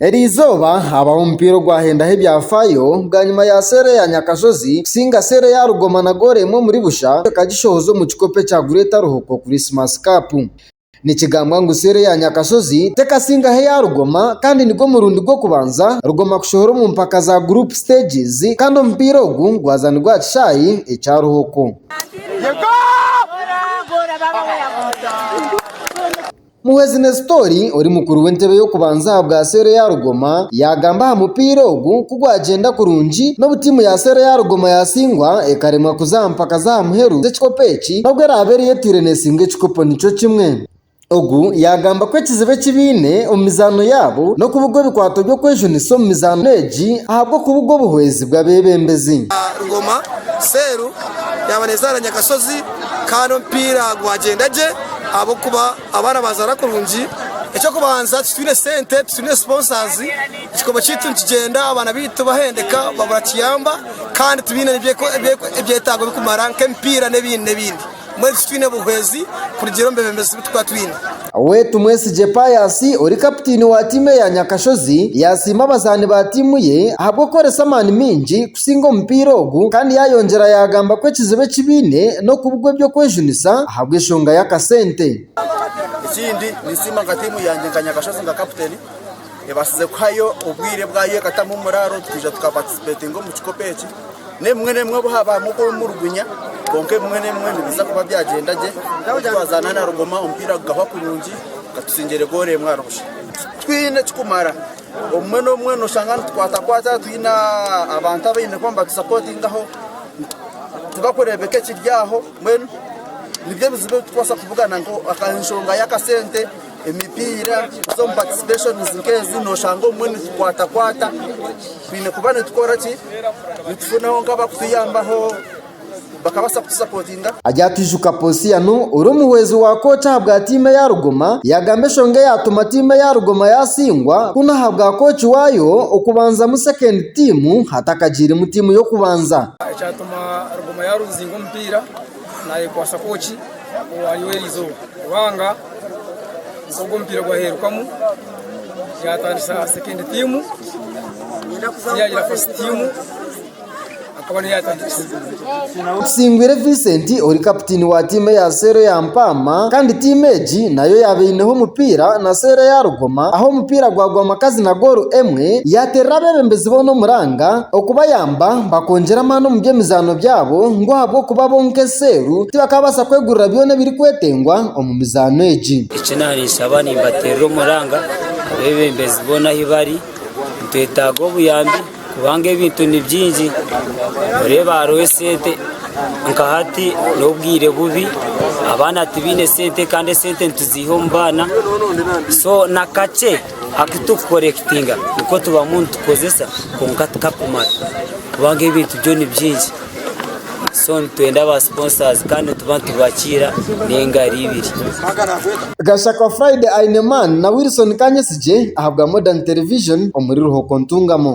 Eri izooba habaho omupiira ogwahendaho ebyafaayo bwanyima ya seera eya Nyakashozi kusinga seera eya Rugoma na goolo emwe omuri busha ekagishohoza omu kikopo ekya Great Ruhoko Christmas Cup. Nikigambwa ngu seera eya Nyakashozi tekasingaho eya Rugoma kandi nigwo murundi gw'okubanza Rugoma kushohora omu mpaka za Group Stages kandi omupiira ogu gwazanirwe aha kishaayi ekya Ruhoko. Muhwezi Nesitori ori mukuru w'entebe y'okubanza aha bwa seero eya Rugoma yaagamba aha mupiira ogu ku gwagyenda kurungi n'obu tiimu ya seero eya Rugoma yaatsingwa ekaremwa kuza aha mpaka z'aha muheru z'ekikopo eki nabwo eraabe eriyo etiire neetsinga ekikopo nikyo kimwe. Ogu yaagamba ku ekizibu eki baine omu mizaano yaabo n'okubugwa ebikwato by'okwejunisa omu mizaano egi ahabw'okubugwa obuhwezi bw'abeebembezi. Rugoma, Seero yaaba neezaara Nyakashozi. kandi omupiira gwagyenda gye ahabw'okuba abaana bazaana kurungi. Eky'okubanza titwine sente, titwine sponsors, ekikopo kyaitu nikigyenda abaana baitu bahendeka babura kiyamba kandi tibaine ebyetaago birikumara nk'emipiira n'ebindi n'ebindi. Mbwenu titwine buhwezi kurugiirira omu beebembezi abu turikuba twine. Ow'e Tumwesigye Pius ori kaputiini wa tiimu eya Nyakashozi yaasiima abazaani ba tiimu ye ahabw'okukoresa amaani maingi kusinga omupiira ogu kandi yaayongyera yaagamba ku ekizibu eki baine n'okubugwa eby'okwejunisa ahabw'enshonga y'akasente. Ekindi, ninsiima nka tiimu yangye nka Nyakashozi nka kaputeni. Ebaasize kuhayo obwire bwayo ekatamu omuraaro twija tukapaatisipeetinga omu kikopo eki. N'ebimwe n'ebimwe obu haabaamu okwemulugunya kwonka ebimwe n'ebimwe nibiija kuba byagyenda gye obu twazaana na Rugoma omupiira gukahwa kurungi gatutsingire gooro emwe ahari busha. Twine ekikumara obumwe n'obumwe nooshanga nitukwatakwata twine abantu abaine kuba nibatusapootingaho tibakureebeka ekiri aho mbwenu nibyo ebizibu ebi turikubaasa kuvugana nka enshonga y'akasente. Emipiira z'omu participationiz nk'ezi nooshanga obumwe nitukwatakwata twine kuba nitukora ki? Nitufunaho nk'abakutuyambaho bakabaasa kutusapotinga. Aryatwijuka Posiano ori omuhwezi wa kooti ahabwa tiimu eya Rugoma yaagamba eshonga eyaatuma tiimu eya Rugoma yaatsingwa kunu ahabwa kooci waayo okubanzamu second tiimu hatakagiiremu tiimu y'okubanza. Ekyatuma Rugoma yaaruuzinga omupiira. nayekwatsa kwoki owariyo eri izooba kubanga nk'ogu omupiira gwaheerukamu yatandisa sekendi tiimu yagira fasiti tiimu akaba niyo yatandikisa Tusingwire Vincent ori kapitiini wa tiimu eya Seero ya Mpaama kandi tiimu egi nayo yaaba eineho omupiira na Seero ya Rugoma ahu omupiira gwagwa makazi na goolu emwe, yaaterera abeebembezi boona omuranga okubayamba. Baagamba bakoongyera amaani omu by'emizaano byabo ngu ahabw'okuba bo nk'eseeru tibakaabaasa kwegurira byona ebirikwetengwa omu mizaano egi. Eki naanshaba nimbateerera omuranga abeebembezi boona ahi bari. Nitwetaaga obuyambi kubanga ebintu ni bingi noreeba hariho esente nka hati n'obwire bubi abaana tibaine sente kandi esente nituziiha omu baana so na kakye Aku turikukorekitinga nikwo tubamu nitukozesa kwonka tikakumara kubanga ebintu byo ni bingi so nitwenda ba sponsors kandi nituba nitubakiira n'engaro ibiri. Gashaka Friday Aineman na Wilson Kanyesigye ahabwa Modern Television omuri Ruhoko Ntungamo.